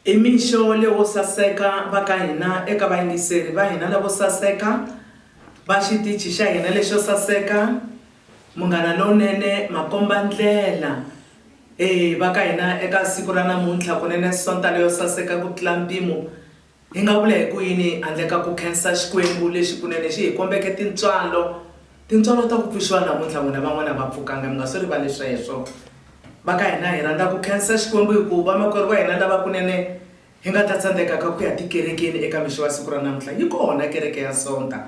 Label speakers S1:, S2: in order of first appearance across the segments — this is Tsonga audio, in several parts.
S1: I mixo lewo saseka va ka hina eka vayingiseri va hina lavo saseka va xitichi xa hina lexo saseka, Munghana Lowunene, makomba-ndlela e va ka hina eka siku ra namuntlha kunene sonta leyo saseka ku tlula mpimo Hi nga vula hi ku yini handle ka ku khensa Xikwembu lexi kunene xi hi kombeke tintswalo, tintswalo ta ku pfuxiwa namuntlha n'wina van'wana a va pfukanga mi nga swi rivali sweswo. Va ka hina hi rhandza ku khensa Xikwembu hi ku vamakwerhu va hina lava kunene hi nga ta tsandzekaka ku ya tikerekeni eka mixo wa siku ra namuntlha yi kona kereke ya Sonta.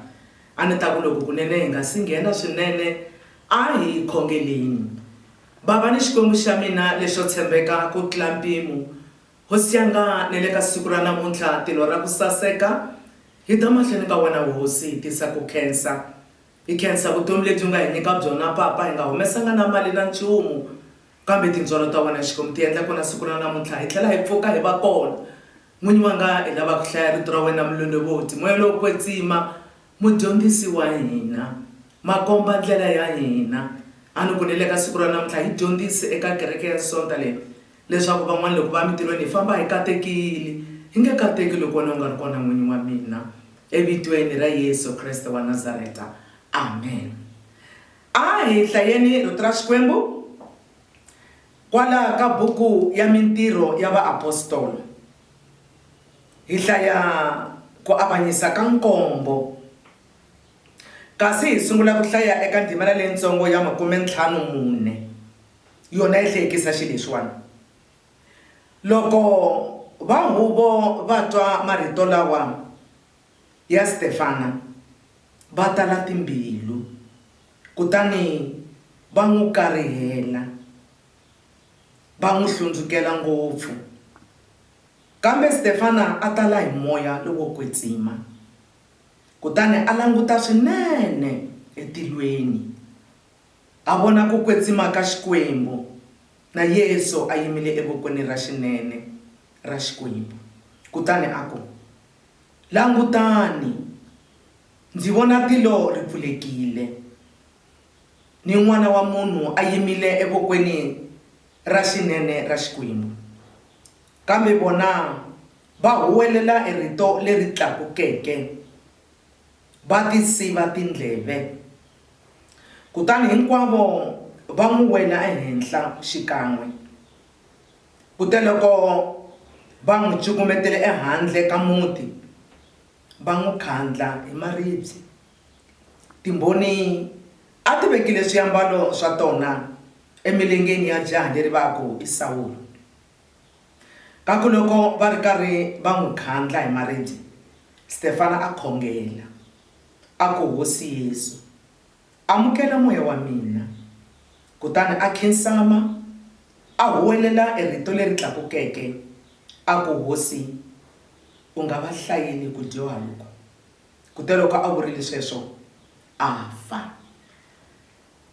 S1: A ni ta ku loko kunene hi nga si nghena swinene a hi khongeleni. Bava ni Xikwembu xa mina lexo tshembeka ku tlula mpimo Ho syanga ni le ka siku ra namuntlha tilo ra ku saseka hi ta mahlweni ka wena Hosi hi tisa ku khensa hi khensa vutomi lebyi u nga hi nyika byona Papa hi nga humesanga na mali na nchumu kambe tintswalo ta wena Xikwembu ti endla kona siku ra namuntlha hi tlhela hi pfuka hi va kona N'winyi wa nga hi lava ku hlaya rito ra wena mulondovoti moya lowo kwetsima mudyondzisi wa hina makomba ndlela ya hina a ni ku ni le ka siku ra namuntlha hi dyondzisi eka kereke ya sonta leyi leswaku van'wana loko va emitirhweni hi famba hi katekile, hi nge kateki loko wena u nga ri kona n'wini wa mina. Evitweni ra Yesu Kreste wa Nazareta. Amen. A hi hlayeni Rito ra Xikwembu kwala ka buku ya Mintirho ya Vaapostolo. Hi hlaya ku avanyisa ka nkombo. Kasi hi sungula ku hlaya eka ndhimana leyitsongo ya makume ntlhanu mune. Yona yi hlekisa xilexiwana. Loko va huvo va twa marito lawa ya Stefana, va tala timbilu, kutani va n'wi karihela, va n'wi hlundzukela ngopfu. Kambe Stefana a tala hi moya lowo kwetsima, kutani a languta swinene etilweni. A vona ku kwetsima ka Xikwembu, na Yesu a yimile evokweni ra xinene ra Xikwembu. Kutani a ku, Langutani, ndzi vona tilo ri pfulekile, ni N'wana wa munhu a yimile evokweni ra xinene ra Xikwembu. Kambe vona va huwelela hi rito leri tlakukeke. Va ti siva tindleve. Kutani hinkwavo va n'wi wela ehenhla xikan'we. Kuteloko va n'wi cukumetele ehandle ka muti, va n'wi khandla hi maribye. Timbhoni a ti vekile swiambalo swa tona emilengeni ya jaha leri va ku i Sawulo. Kambe loko va ri karhi va n'wi khandla hi maribye, Stefana a khongela, a ku, Hosi Yesu, amukela moya wa mina. Kutani a khinsama, a huwelela erito leri tlakukeke, a ku, Hosi, u nga va hlayeli ku dyoha loku. Kuteloko a vurile sweswo, a fa.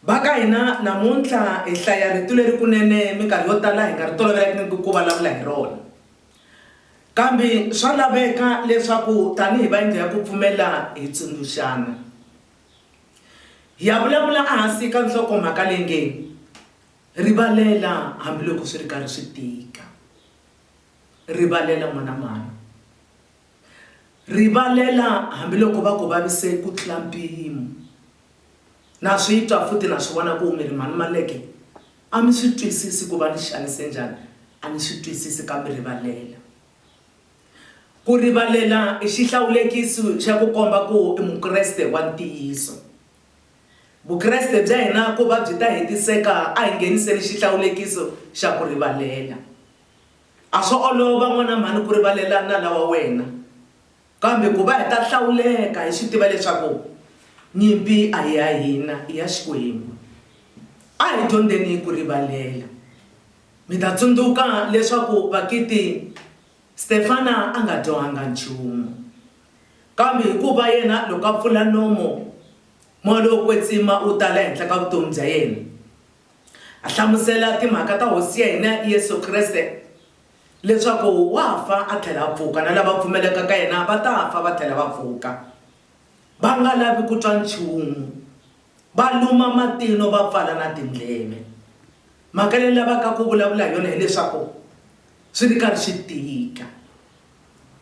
S1: Va ka hina namuntlha hi hlaya rito leri kunene minkarhi yo tala hi nga ri tolovelangiki ku vulavula hi rona. Kambe swa laveka leswaku tanihi va yindlu ya ku pfumela hi tsundzuxana. Hi ya vulavula ehansi ka nhlokomhaka leyi nge, Rivalela Hambiloko Swi Ri Karhi Swi Tika. Rivalela N'wana Mhani. Rivalela hambiloko va ku vavise ku tlula mpimo. Na swi twa futhi na swi vona ku mi rimalumaleke. A mi swi twisisi ku va ni xanise njhani, a ni swi twisisi kambe rivalela. Ku rivalela i xihlawulekisi xa ku komba ku i Mukreste wa ntiyiso. Vukreste bya hina ku va byi ta hetiseka a hi ngheniseni xihlawulekiso xa ku rivalela. A swo olova, n'wana mhani, ku rivalela nala wa wena. Kambe ku va hi ta hlawuleka hi swi tiva leswaku nyimpi a hi ya hina, i ya Xikwembu. A hi dyondzeni ku rivalela. Mi ta tsundzuka leswaku Vakiti Stefana a nga dyohanga nchumu. Kambe hikuva yena loko a pfula nomo, moya lowo kwetsima wu tala ehenhla ka vutomi bya yena. A hlamusela timhaka ta Hosi ya hina Yesu Kreste, leswaku wa fa a tlhela a pfuka, na lava pfumelaka ka yena va ta fa va tlhela va pfuka. Va nga lavi ku twa nchumu, va luma matino va pfala na tindleve. Mhaka leyi ni lavaka ku vulavula hi yona hileswaku swi ri karhi swi tika.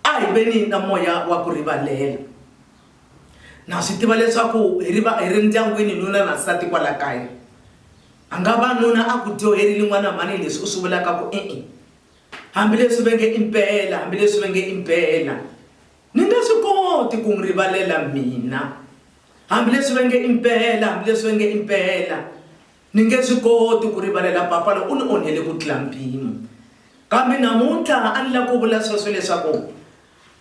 S1: A hi veni na moya wa ku rivalela. Na swi tiva leswaku hi ri va hi ri ndyangwini nuna na nsati kwala kaya. A nga va nuna a ku dyoherile n'wana mhani leswi u swi vulaka ku e-e. Hambileswi va nge i mpela, hambileswi va nge i mpela. Ni nge swi koti ku n'wi rivalela mina. Hambileswi va nge i mpela, hambileswi va nge i mpela. Ni nge swi koti ku rivalela papa loyi u ni onhele ku tlula mpimo. Kambe namuntlha a ni lava ku vula sweswo leswaku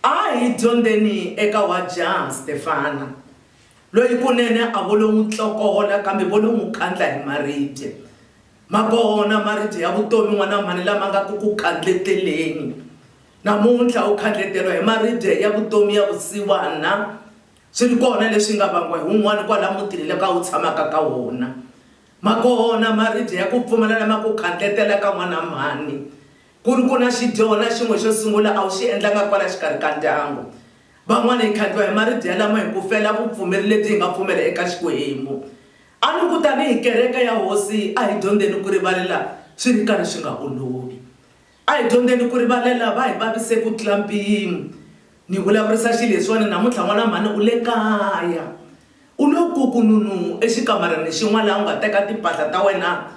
S1: a hi dyondzeni eka wajaha Stefana, loyi kunene a vo lo n'wi tlokola kambe vo lo n'wi kandla hi maribye. Ma kona maribye ya vutomi n'wana mhani lama nga ku ku kandleteleni. Namuntlha u khandleteriwa hi maribye ya vutomi ya vusiwana Swi ri kona leswi nga vangiwa hi wun'wana kwala mutini leka u tshamaka ka wona. Ma kona maribye ya ku pfumala lama ku khandletelaka n'wana mhani. Ku ri ku na xidyona xin'we xo sungula a wu xi endlanga kwala xikarhi ka ndyangu. Van'wana hi khandliwa hi maribye yalamo hi ku fela vupfumeri lebyi hi nga pfumela eka Xikwembu. A ni ku tanihi kereke ya Hosi a hi dyondzeni ku rivalela swi ri karhi swi nga olovi. A hi dyondzeni ku rivalela lava hi vavise ku tlula mpimo. Ni vulavurisa xileswiwani namuntlha, n'wana mhani u le kaya. U lo kukununu exikamareni xin'wana laha u nga teka timpahla ta wena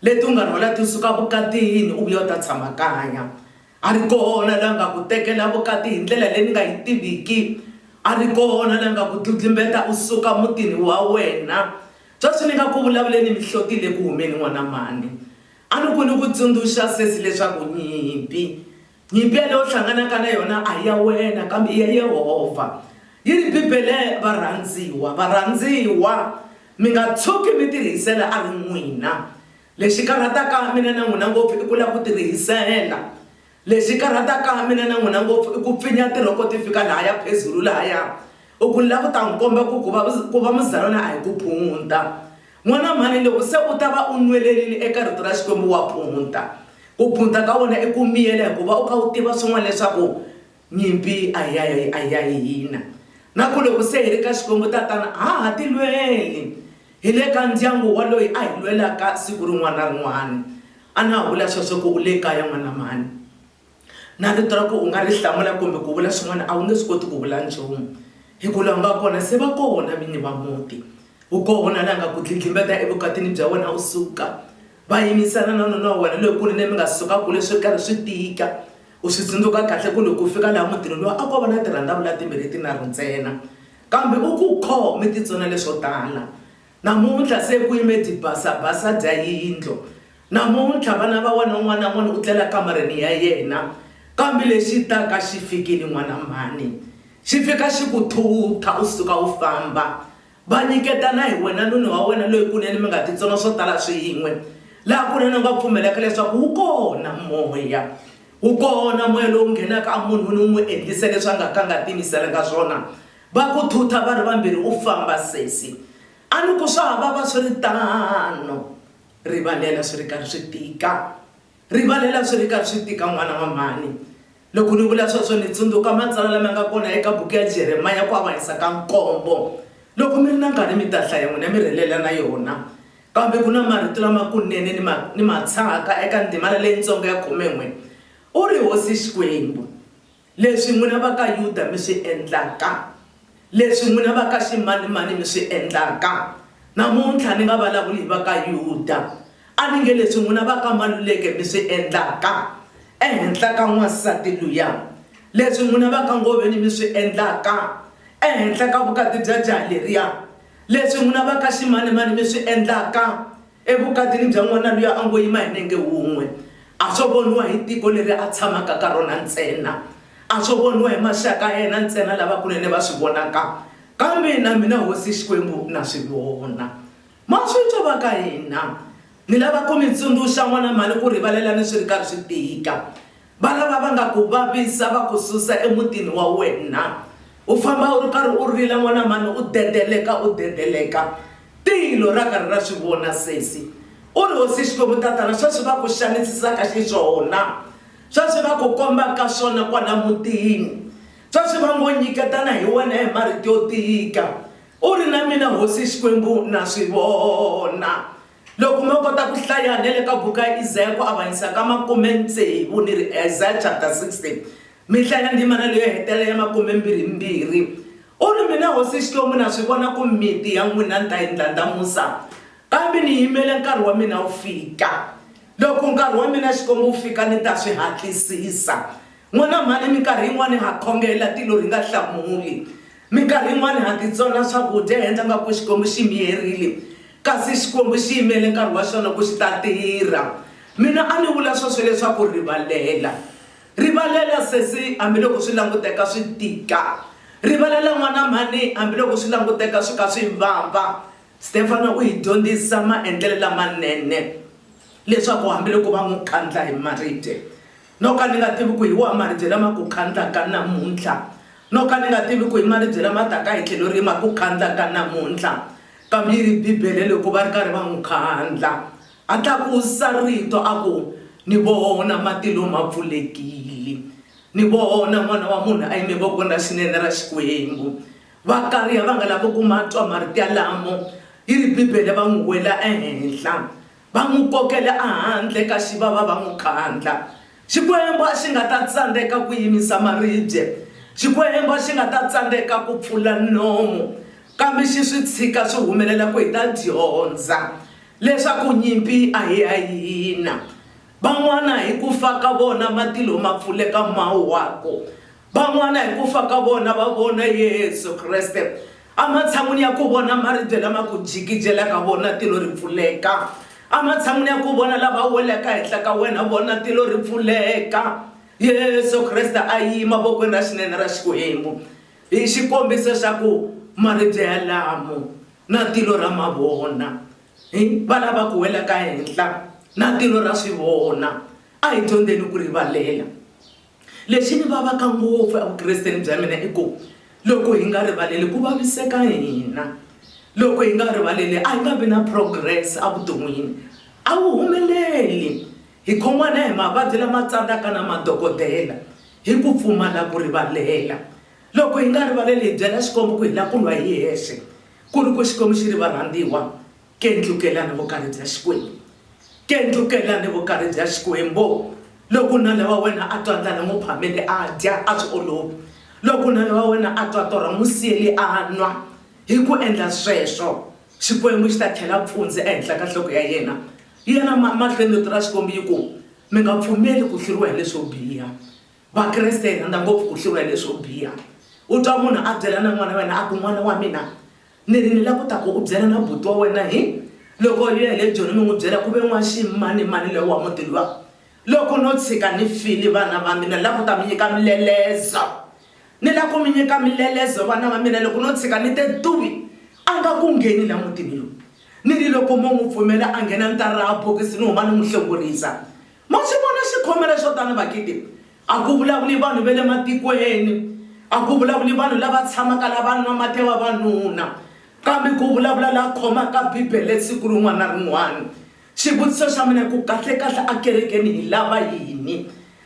S1: leti u nga rhwala ti suka vukatini u vuya u ta tshama kaya. A ri kona la nga ku tekela vukati hi ndlela leyi ni nga yi tiviki. A ri kona la nga ku dludlumbeta u suka mutini wa wena. Sweswi ni nga ku vulavuleni mihloti yi le ku humeni, n'wana mhani. A ni ku ni ku tsundzuxa sesi leswaku nyimpi, nyimpi yaleyi u hlanganaka na yona a hi ya wena kambe i ya Yehovha. Yi ri Bibele, Varhandziwa, varhandziwa, mi nga tshuki mi tirihisela a ri n'wina. Lexi karhataka mina na n'wina ngopfu i ku lava ku tirihisela. Lexi karhataka mina na n'wina ngopfu i ku pfinya tirhoko ti fika lahaya phezulu lahaya. U ku ni lava ku ta n'wi komba ku ku va ku va muzalwana a hi ku phunta. N'wana mhani loko se u ta va u nwelerile eka Rito ra Xikwembu wa phunta. Ku phunta ka wena i ku miyela hikuva u kha u tiva swin'wana leswaku nyimpi a hi ya a hi ya hina na ku loko se hi ri ka Xikwembu Tatana a ha ha tilweli. Hi le ka ndyangu wa loyi a hi lwelaka siku rin'wana na rin'wana. A na ha vula sweswo ku u le kaya n'wana mhani. Na rito ra ku u nga ri hlamula kumbe ku vula swin'wana a wu nge swi koti ku vula nchumu hi ku lava nga kona se va kona vini va muti. U kona la nga ku dlidlimbeta evukatini bya wena u suka va yimisana na nuna wa wena loyikulu leyi mi nga suka kule swi ri karhi swi tika. U swi tsundzuka kahle ku loko u fika laha mutini luwa a ko va na tirhandavula timbirhi tinharhu ntsena. Kambe u ku khome titsona leswo tala. Namuntlha se ku yime dibasabasa dya yindlo. Namuntlha vana va wena un'wana na un'wana u tlela kamareni ya yena. Kambe lexi taka xi fikile, n'wana mhani. Xi fika xi ku thutha u suka u famba. Va nyiketana hi wena nuna wa wena loyi kunene mi nga titsona swo tala swin'we. Laha kunene u nga pfumelaka leswaku wu kona moya. Wu kona moya lowu nghenaka emunhwini wu n'wi endlisa leswi a nga ka a nga tiyimiselanga swona. Va ku thutha va ri vambirhi, U famba sesi! A ni ku, Swa ha vava swi ri tano. Rivalela swi ri karhi swi tika. Rivalela swi ri karhi swi tika, n'wana wa mhani. Loko ni vula sweswo ni tsundzuka matsalwa lama nga kona eka buku ya Jeremiya ku avanyisa ka nkombo. Loko mi ri na nkarhi mi ta hlaya n'wina mi rhelela na yona. Kambe ku na marito lamakunene ni ma ni ma tshahaka eka ndzimana leyintsongo ya khume-n'we, U ri Hosi Xikwembu, leswi n'wina va ka Yuda mi swi endlaka, leswi n'wina va ka ximanimani mi swi endlaka, namuntlha ni nga valavuli hi va ka Yuda, a ni nge leswi n'wina va ka Maluleke mi swi endlaka ehenhla ka n'wansati luya, leswi n'wina va ka Ngoveni mi swi endlaka ehenhla ka vukati bya jaha leriya. Leswi n'wina va ka ximanimani mi swi endlaka evukatini bya n'wana luya a ngo yima hi nenge wun'we, a swo voniwa hi tiko leri a tshamaka ka rona ntsena, a swo voniwa hi maxaka ya yena ntsena lavakunene va swi vonaka, kambe na mina hosi Xikwembu na swi vona. Ma swi twa va ka hina? Ni lava ku mi tsundzuxa n'wana mhani ku rivalela ni swi ri karhi swi tika. Va lava va nga ku vavisa va ku susa emutini wa wena. U famba u ri karhi u rila n'wana mhani u dedeleka u dedeleka. Tilo ra karhi ra swi vona sesi. U ri, Hosi Xikwembu tatana swa swi va ku xanisisaka xiswona, swa swi va ku kombaka swona kwala mutini, swa swi va ngo nyiketana hi wena hi marito yo tika. U ri, Na mina Hosi Xikwembu na swi vona. Loko mo kota ku hlaya ne le ka buku ya Isaya ku avanyisa ka makume-tsevu ni ri Isaya chapter 60, mi hlaya ndzimana leyo hetelela ya makume-mbirhi-mbirhi, u ri, Mina Hosi Xikwembu na swi vona ku miti ya n'wina ni ta yi ndlandlamusa, kambe ni yimele nkarhi wa mina wu fika. Loko nkarhi wa mina Xikwembu wu fika ni ta swi hatlisisa. N'wana mhani, minkarhi yin'wana ha khongela tilo hi nga hlamuli. Minkarhi yin'wana ha titsona swakudya hi endla ngaku Xikwembu xi miyerile, kasi Xikwembu xi yimele nkarhi wa xona ku xi ta tirha. Mina a ni vula sweswo leswaku rivalela. Rivalela sesi hambiloko swi languteka swi tika. Rivalela n'wana mhani hambiloko swi languteka swi ka swi vava. Stefano u hi dyondzisa maendlelo lamanene leswaku hambiloko va n'wi kandla hi maribye, no ka ni nga tivi ku hi wahi maribye lama ku khandlaka namuntlha no ka ni nga tivi ku hi maribye lama taka hi tlhelo rihi ma ku khandlaka namuntlha kambe yi ri bibele loko va ri karhi va n'wi khandla a tlakusa rito a ku ni vona matilo ma pfulekile ni vona n'wana wa munhu a yime vokweni ra xinene ra xikwembu va kariya va nga lavi ku ma twa marito yalamo yi ri bibele va n'wi wela ehenhla Va n'wi kokele ehandle ka xivava va n'wi khandla. Xikwembu a xi nga ta tsandzeka ku yimisa maribye. Xikwembu a xi nga ta tsandzeka ku pfula nomu. Kambe xi swi tshika swi humelela ku hi ta dyondza leswaku nyimpi a hi ya hina. Van'wana hi ku fa ka vona matilo ma pfuleka ma wa ku, Van'wana hi ku fa ka vona va vona Yesu Kreste ematshan'wini ya ku vona maribye lama ku jikijelaka vona tilo ri pfuleka. Ematshan'wini ya ku vona lava welaka henhla ka wena vona tilo ri pfuleka. Yesu Kreste a yima vokweni ra xinene ra Xikwembu hi xikombiso xa ku maribye yalamo na tilo ra ma vona. Hi va lava ku welaka henhla na tilo ra swi vona. A hi dyondzeni ku rivalela. Lexi ni vavaka ngopfu evukresteni bya mina i ku loko hi nga rivaleli ku vaviseka hina. Loko hi nga rivaleli a hi nga vi na progress evuton'wini, a wu humeleli. Hi khomiwa na hi mavabyi lama tsandzaka na madokodela hi ku pfumala ku rivalela. Loko hi nga rivaleli hi byela Xikwembu ku hi lava ku lwa hi hexe ku ri ku Xikwembu xi ri varhandziwa Kendlukelani vukari bya Xikwembu, kendlukelani vukari bya Xikwembu. Loko nala wa wena a twa ndlala, n'wi phamele a dya, a swi olovi. Loko nala wa wena a twa torha, n'wi siyeli a nwa. Hi ku endla sweswo, Xikwembu xi ta khela pfundzi ehenhla ka nhloko ya yena. Yela ma, mahlweni Rito ra Xikwembu yi ku, Mi nga pfumeli ku hluriwa hi leswo biha. Vakreste hi rhandza ngopfu ku hluriwa hi leswo biha. U twa munhu a byela na n'wana wa yena a ku, N'wana wa mina, Ni ri ni la ku ta ku u byela na buti wa wena hi loko u ya hi le Joni ni n'wi byela ku ve n'waximanimani loyi wa muti luwa. Loko no tshika ni file vana va mina ni la ku ta mi nyika milelezo. Ni la ku mi nyika milelezo vana va mina loko no tshika ni te tuwi a nga ku ngheni la mutini lowu. Ni ri loko mo n'wi pfumela a nghena ni ta raha bokisi ni huma ni n'wi hlongorisa. Ma swi vona xikhomela xo tano vakiti? A ku vulavuli vanhu va le matikweni, a ku vulavuli vanhu lava tshamaka la va nwa mati ya vavanuna, kambe ku vulavula la khomaka Bibele siku rin'wana na rin'wana. Xivutiso xa mina i ku, kahle-kahle ekerekeni hi lava yini?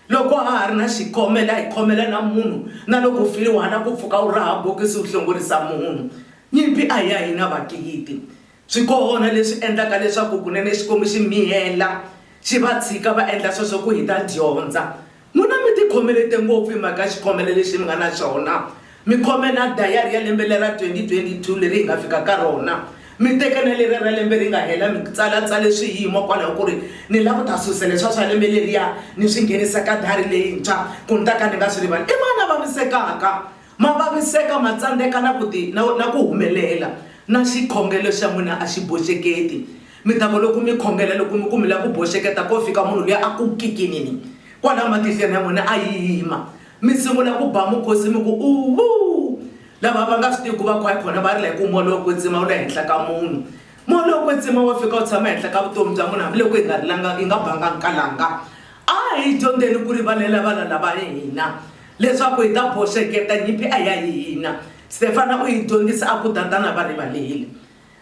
S1: Loko ha ha ri na xikhomela, hi khomela na munhu, na loko u file wa ha lava ku pfuka u raha bokisi u hlongorisa munhu. Nyimpi a hi ya hina, vakiiti. Swikona leswi endlaka leswaku kunene Xikwembu xi miyela xi va tshika va endla sweswo ku hi ta dyondza. N'wina mi tikhomelete ngopfu hi mhaka xikhomelo lexi mi nga na xona. Mi khome na dayari ya lembe lera 2022 leri hi nga fika ka rona. Mi teke na leriya ra lembe ri nga hela mi tsalatsale swiyimo kwalaho ku ri ni lava ku ta susa leswiya swa lembe leriya ni swi nghenisa ka dayari leyintshwa ku ni ta ka ni nga swi rivali. I mani a vavisekaka? Ma vaviseka, ma tsandzeka na ku ti, na, na ku humelela, na xikhongelo xa n'wina a xi boxeketi. Mi ta ku loko mi khongela, loko mi ku mi lava ku boxeketa, ko fika munhu luya a ku kikinini kwalaya matihlweni ya n'wina, a yima. Mi sungula ku ba mukhosi mi ku, Uuvuu! Lava va nga swi tiviku va khwaya khona va rila hi ku, Moya wo kwetsima wu le henhla ka munhu. Moya lowo kwetsima wa fika wu tshama ehenhla ka vutomi bya munhu, hambiloko hi nga rilanga, hi nga banga nkalanga. A hi dyondzeni ku rivalela vana lava hina. Leswaku hi ta boxeketa nyimpi a ya hina, Stefana u hi dyondzisa a ku, Tatana va rivalile.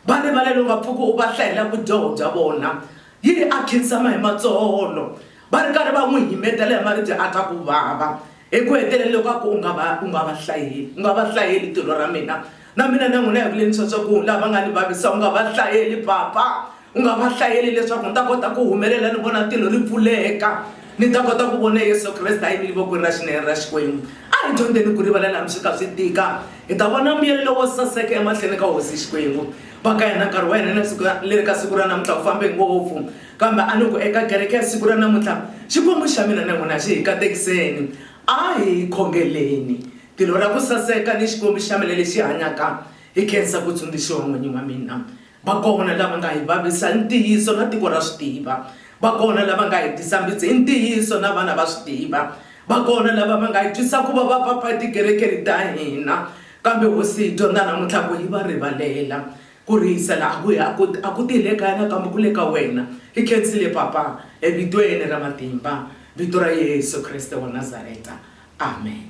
S1: Va rivalile u nga pfuki u va hlayela vudyoho bya vona. Yini a khinsama hi matsolo, va ri karhi va n'wi himetela hi maribye a twa ku vava. Eku heteleleni loko a ku, U nga va, u nga va hlayeli, u nga va hlayeli tilo ra mina. Na mina na n'wina hi ku lemisa leswaku lava va nga ni vavisa u nga va hlayeli Papa, u nga va hlayeli leswaku ni ta kota ku humelela ni vona tilo ri pfuleka, ni ta kota ku vona Yesu Kreste a yimile vokweni ra xinene ra Xikwembu. A hi dyondzeni ku rivalela hambi swi kha swi tika, hi ta vona mbuyelo lowo saseka emahlweni ka Hosi Xikwembu. Va ka hina nkarhi wa hina na siku leri ka siku ra namuntlha wu fambe ngopfu, kambe a ni ku eka kereke ya siku ra namuntlha Xikwembu xa mina na n'wina xi hi katekiseni. A hi khongeleni. Tilo ra ku saseka ni Xikwembu xa mina lexi hanyaka hi khensa ku tsundzuxiwa n'winyi wa mina. Va kona lava nga hi vavisa hi ntiyiso na tiko ra swi tiva. Va kona lava nga hi tisa mbitsi hi ntiyiso na vana va swi tiva. Va kona lava va nga hi twisa ku vava va pfa etikerekeni ta hina. Kambe Hosi hi dyondza namuntlha ku hi va rivalela. Ku rihisela a ku hi a ku a ku ti hi le kaya nakambe ku le ka wena. Hi khensile Papa evitweni ra matimba, vito ra Yesu Kreste wa Nazareta. Amen.